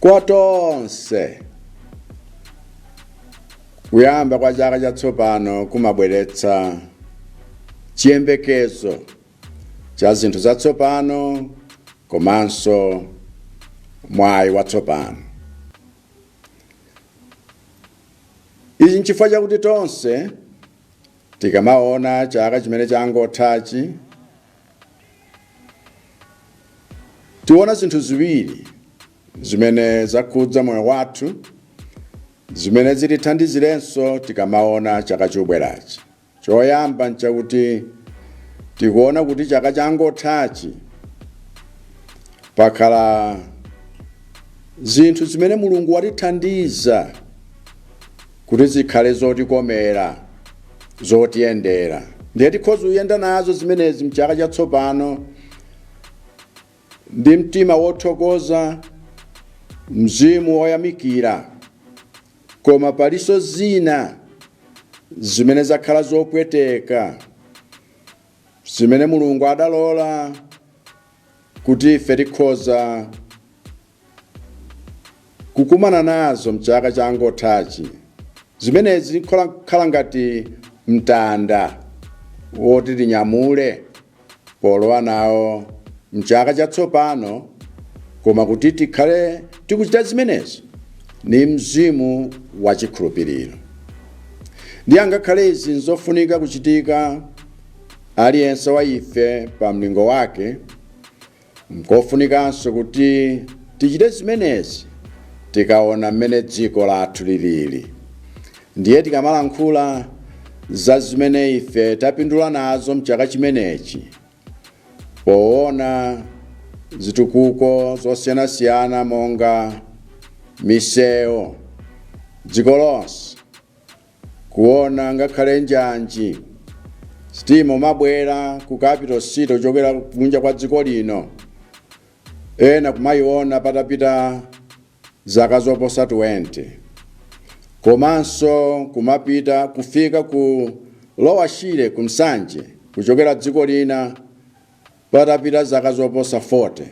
kwa tonse kuyamba kwa chaka chatsopano kumabweretsa chiyembekezo cha zinthu zatsopano komanso mwayi watsopano ichi nchifukwa chakuti tonse tikamaona chaka chimene changothachi Tiona zinthu ziwiri zimene zakhudza moyo wathu zimene zitithandizirenso tikamaona chaka chobwerachi. Choyamba n'chakuti tikuona kuti chaka changothachi pakhala zinthu zimene Mulungu watithandiza kuti zikhale zotikomera, zotiyendera. Ndiye tikhoza kuyenda nazo zimenezi mchaka chatsopano ndi mtima wothokoza, mzimu woyamikira. Koma palinso zina zimene zakhala zopweteka zimene Mulungu adalola kuti ife tikhoza kukumana nazo mchaka changothachi zimenezi zikhala ngati mtanda woti tinyamule polowa nawo mchaka chatsopano koma kuti tikhale tikuchita zimenezi ni mzimu wa chikhulupiriro ndiye angakhale izi nzofunika kuchitika aliyense wa ife pa mlingo wake Nkofunikanso kuti tichite zimenezi tikaona mmene dziko lathu lilili. Ndiye tikamalankhula za zimene ife tapindula nazo m'chaka chimenechi poona zitukuko zosiyanasiyana monga misewu dziko lonse, Kuona ngakhale njanji, sitima kumabwera ku capital city kuchokera kunja kwa dziko lino, ena kumaiona patapita zaka zoposa 20. Komanso kumapita kufika ku Lower Shire ku Nsanje kuchokera dziko lina patapita zaka zoposa 40.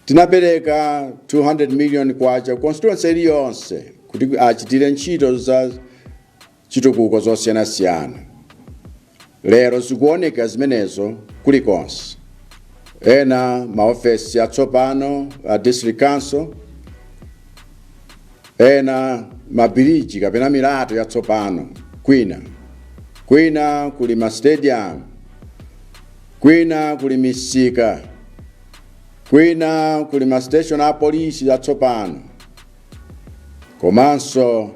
Tinapereka 200 million kwacha constituency iliyonse kuti achitire ntchito za chitukuko zosiyanasiyana. Lero zikuoneka zimenezo kulikonse. Ena maofesi atsopano a district council, ena mabiriji kapena milatho yatsopano kwina kwina kuli ma stadium Kwina kuli misika, kwina kuli ma station a polisi atsopano, komanso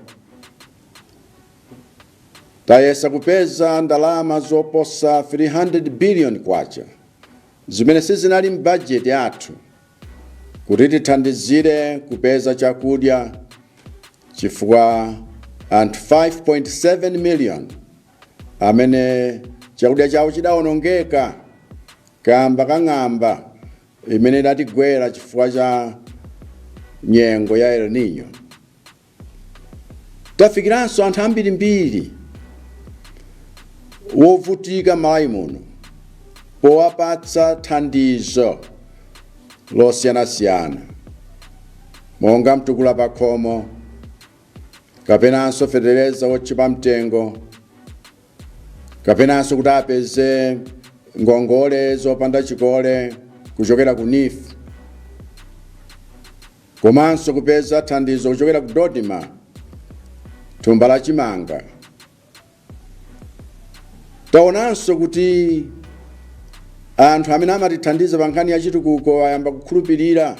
tayesa kupeza ndalama zoposa 300 billion kwacha zimene sizinali m'bajeti yathu kuti tithandizire kupeza chakudya chifukwa anthu 5.7 million amene chakudya chawo chidawonongeka kaamba ka ng'amba imene idatigwera chifukwa cha nyengo ya El Nino. Tafikiranso anthu ambirimbiri wovutika m'Malawi muno powapatsa thandizo losiyanasiyana monga mtukula pakhomo kapenanso fetereza wotchipa mtengo kapenanso kuti apeze ngongole zopanda chikole kuchokera ku NEEF komanso kupeza thandizo kuchokera ku DoDMA thumba la chimanga taonanso kuti anthu amene amatithandiza pa nkhani ya chitukuko ayamba kukhulupirira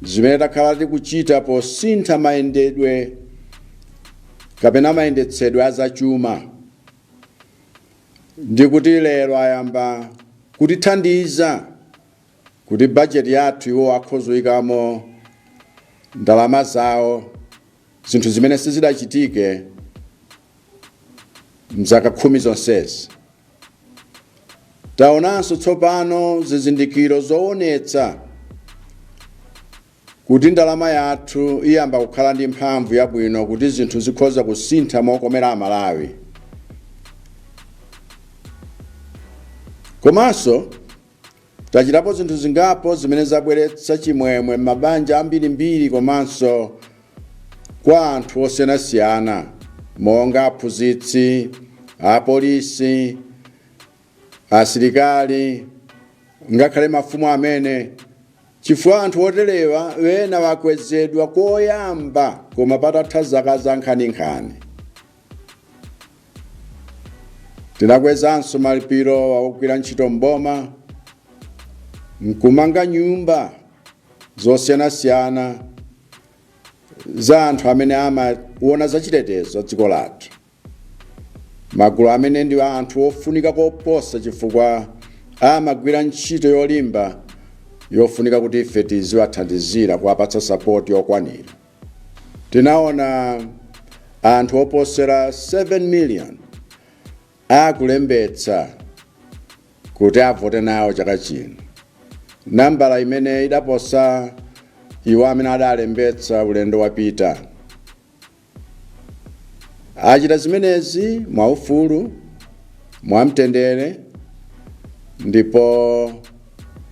zimene takhala tikuchita posintha mayendedwe kapena mayendetsedwe azachuma ndi kuti lero ayamba kutithandiza kuti bajeti yathu iwo akhoza kuyikamo ndalama zawo zinthu zimene sizidachitike m'zaka khumi zonsezi taonanso tsopano zizindikiro zoonetsa kuti ndalama yathu iyamba kukhala ndi mphamvu yabwino kuti zinthu zikhoza kusintha mokomera Amalawi komanso Tachitapo zinthu zingapo zimene zabweretsa chimwemwe m'mabanja ambirimbiri komanso kwa anthu osiyanasiyana monga aphunzitsi, apolisi, asilikali ngakhale mafumu amene, chifukwa anthu oterewa ena akwezedwa koyamba koma patatha zaka zankhaninkhani. Tinakwezanso malipiro a ogwira ntchito m'boma nkumanga nyumba zosiyanasiyana za anthu amene amaona zachitetezo dziko lathu magulu amene ndi anthu ofunika koposa chifukwa amagwira ntchito yolimba yofunika kuti ife tiziwathandizira kuwapatsa sapoti yokwanira Tinaona anthu oposera 7 million akulembetsa kuti avote nawo chaka chino, nambala imene idaposa iwo amene adalembetsa ulendo wapita. Achita zimenezi mwaufulu, mwamtendere ndipo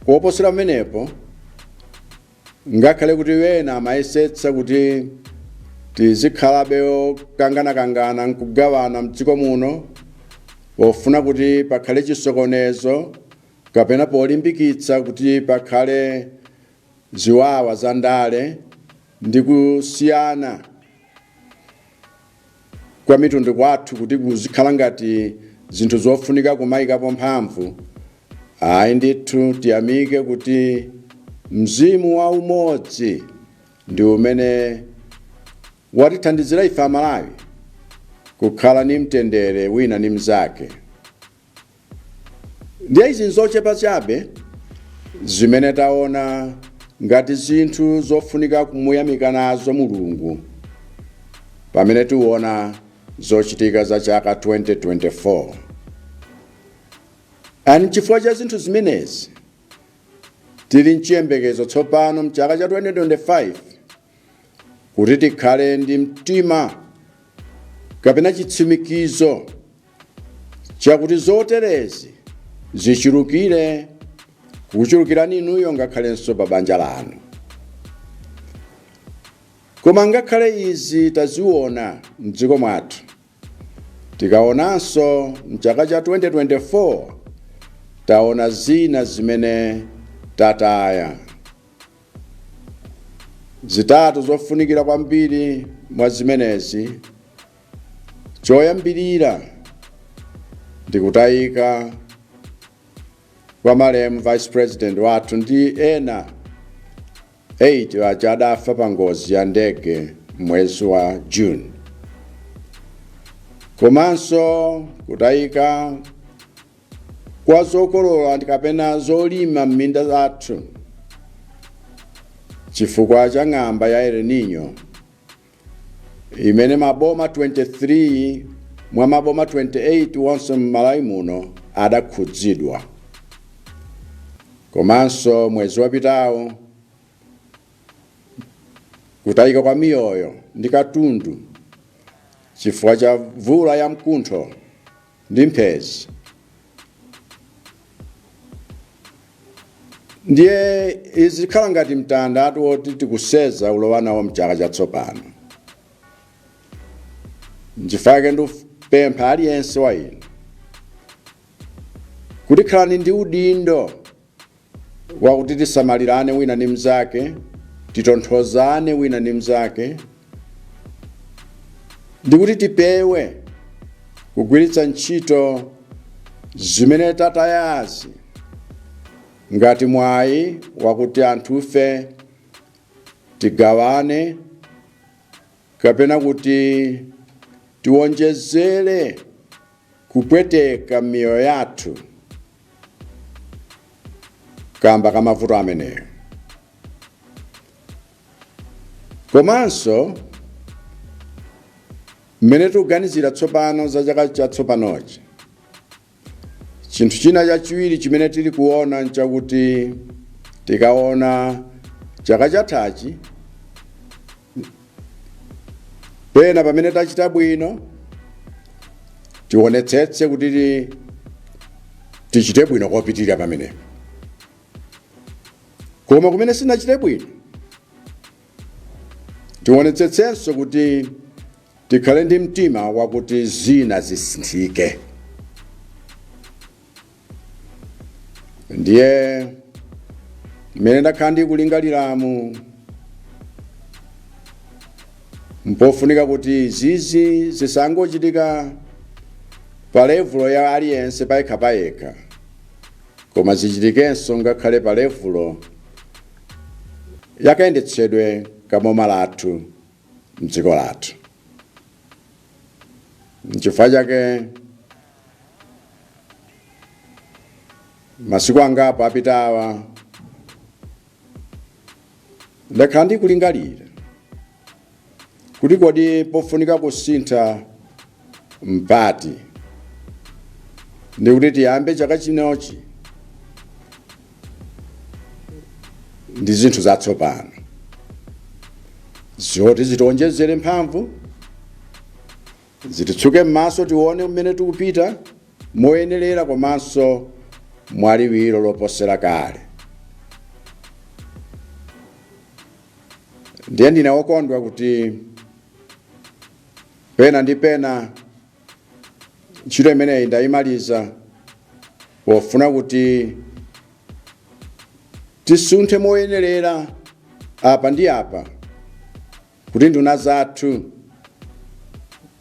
koposera pamenepo, Ngakhale kuti ena amayesetsa kuti tizikhalabe okanganakangana n'kugawana m'dziko muno pofuna kuti pakhale chisokonezo kapena polimbikitsa kuti pakhale ziwawa zandale ndi kusiyana, kwa mitundu kwathu kuti kuzikhala ngati zinthu zofunika kumayikapo mphamvu ayi ndithu tiyamike kuti mzimu wa umodzi ndi umene watithandizira ife Amalawi kukhala ni mtendere wina ni mnzake ndiye izi nzochepa chabe zimene taona ngati zinthu zofunika kumuyamika nazo Mulungu pamene tiona zochitika za chaka 2024 and chifukwa cha zinthu zimenezi tili mchiyembekezo tsopano mchaka cha 2025 kuti tikhale ndi mtima kapena chitsimikizo chakuti zoterezi zichulukire kukuchulukirani inuyo ngakhalenso pa banja lanu koma ngakhale izi taziona mdziko mwathu tikaonanso mchaka cha 2024 taona zina zimene tataya zitatu zofunikira kwambiri mwa zimenezi Choyambirira ndi kutayika kwa malemu vice president wathu ndi ena 8 aja adafa pa ngozi ya ndege mwezi wa June, komanso kutayika kwa zokolola ndi kapena zolima m'minda zathu chifukwa cha ng'amba ya El Nino imene maboma 23 mwa maboma 28 onse m'Malawi muno adakhudzidwa. Komanso mwezi wapitawo kutayika kwa miyoyo ndi katundu chifukwa cha mvula yamkuntho ndi mphezi ndiye izi zikhala ngati mtandatu woti tikuseza ulowa nawo mchaka chatsopano nchifake ndipempha aliyense wa inu kuti khalani ndi udindo wakuti tisamalirane wina ndi mnzake, titonthozane wina ndi mnzake, ndi kuti tipewe kugwiritsa ntchito zimene tatayazi ngati mwayi wakuti anthufe tigawane kapena kuti tiwonjezere kupweteka miyoyo yathu. kamba ka mavuto ameneyo komanso mmene tikuganizira tsopano za chaka chatsopanochi chinthu china chachiwiri chimene tili kuona nchakuti tikaona chaka chathachi pena pamene tachita bwino tionetsetse kuti tichite bwino kopitirira pamenepo koma kumene sinachite bwino tionetsetsenso kuti tikhale ndi mtima wakuti zina zisinthike ndiye mmene ndakhala ndikulingaliramu mpofunika kuti zizi zisangochitika pa levulo ya aliyense payekha payekha koma zichitikenso ngakhale pa levulo yakayendetsedwe kaboma lathu mdziko lathu nchifukwa chake masiku angapo apitawa ndakhala ndikulingalira kuti kodi pofunika kusintha mpati ndikuti tiyambe chaka chinochi ndi zinthu zatsopano zoti zitionjezere mphamvu Zititsuke m'maso tione kumene tikupita moyenerera komanso mwaliwiro loposera kale. Ndiye ndine wokondwa kuti pena ndi pena ntchito imeneyi ndayimaliza pofuna kuti tisunthe moyenerera apa ndi apa kuti nduna zathu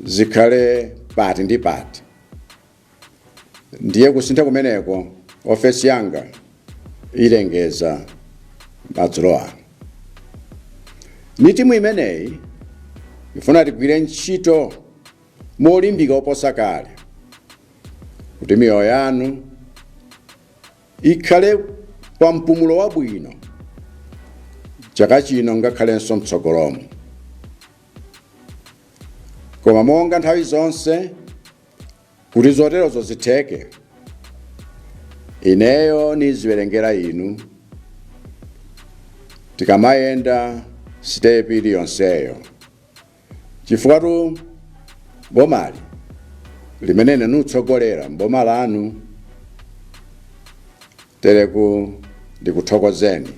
zikhale pati ndi pati ndiye kusintha kumeneko ofesi yanga iyilengeza madzulo ano ni timu imeneyi ifuna tigwire ntchito molimbika oposa kale kuti miyoyo yanu Ikhale pa mpumulo wabwino chaka chino ngakhalenso m'tsogolomu. Koma monga nthawi zonse, kuti zoterozo zitheke, ineyo niziwerengera inu tikamayenda sitepi iliyonseyo. chifukwatu bomali limene ine nikutsogolera mboma lanu tereku ndikuthokozeni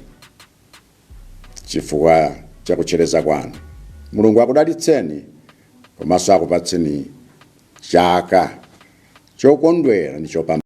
chifukwa chakutchereza kwanu mulungu akudalitseni komanso akupatseni chaka chokondwera ndi chopambana